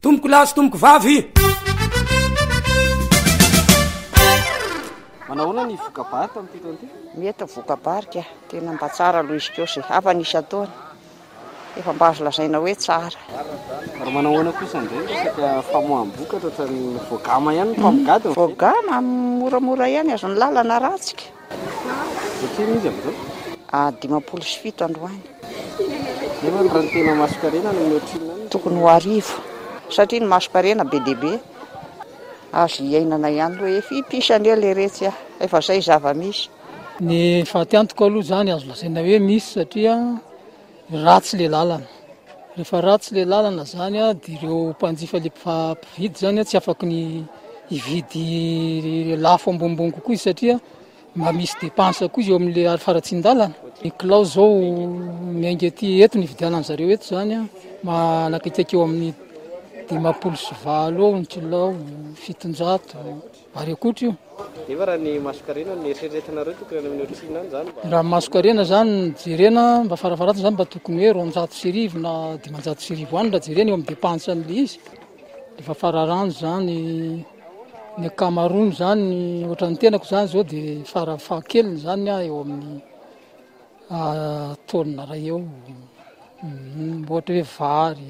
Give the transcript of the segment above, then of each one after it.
Tompoko lahy sy tompoko vavy. Manao ahoana ny voka-bary tamin'ity taona ity? Mety voka-bary ka, tena mba tsara aloha izy koa izay havany isan-taona. Efa mba azo lazaina hoe tsara. Ary manao ahoana kosa indray ny resaka famoaham-bokatra ohatran'ny voagama ihany ny mpamogady? Voagama moramora ihany, azon'ny lalana ratsy ka. Ohatrinona izy amin'izao? A dimampolo sy fito androany. Zay va ny raha ny tena masonkarena no ohatrinona any? Tokony ho arivo. Satria ny masonkarena be dia be azo hiainana ihany aloha e. Fy pisa anie leretsy a! Efa zay zava-misy. Ny fatiantoka aloha izany azo lazaina hoe misy satria. Ratsy le lalana, rehefa ratsy le lalana zany a de reo mpanjifa le mpividy zany a tsy afaky ny hividy lafo ambonimbony kokoa izy satria mba misy depense koa eo amle aro faratsindalana, ny kilao zao miainga aty eto ny ividianany zareo eto zany a manakaikaiky eo amle dimampolo sy valo eo ny kilao, fitonjato. Ary ankoatra io. Nefa raha ny masonkarena no eritreretinareo tokony any amin'ireo Tsina any izany mba. Raha ny masonkarena izany no jerena mba farafaharatiny izany mba tokony hoe roanjato sy arivo na dimanjato sy arivo any raha jerena eo amin'ny depansan'ilay izy. Efa fararano izany ny ankamaroany izany ohatra ny tenako izany izao dia farafahakeliny izany aho eo amin'ny taonina iray eo ohatra hoe vary.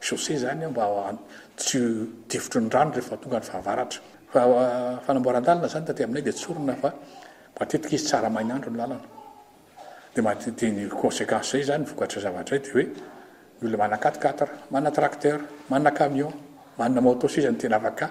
Chaussée izany mba tsy difotry ny rano rehefa tonga ny fahavaratra. Fa fanamboaran-dalana izany taty aminay dia tsorina fa matetika izy tsara main'andro ny lalana. Dia mate- dia ny conséquence izay izany, ny vokatry ny zavatra izay dia hoe ny olona manana quatre-quatre, manana tracteur, manana camion, manana moto sisa no tena afaka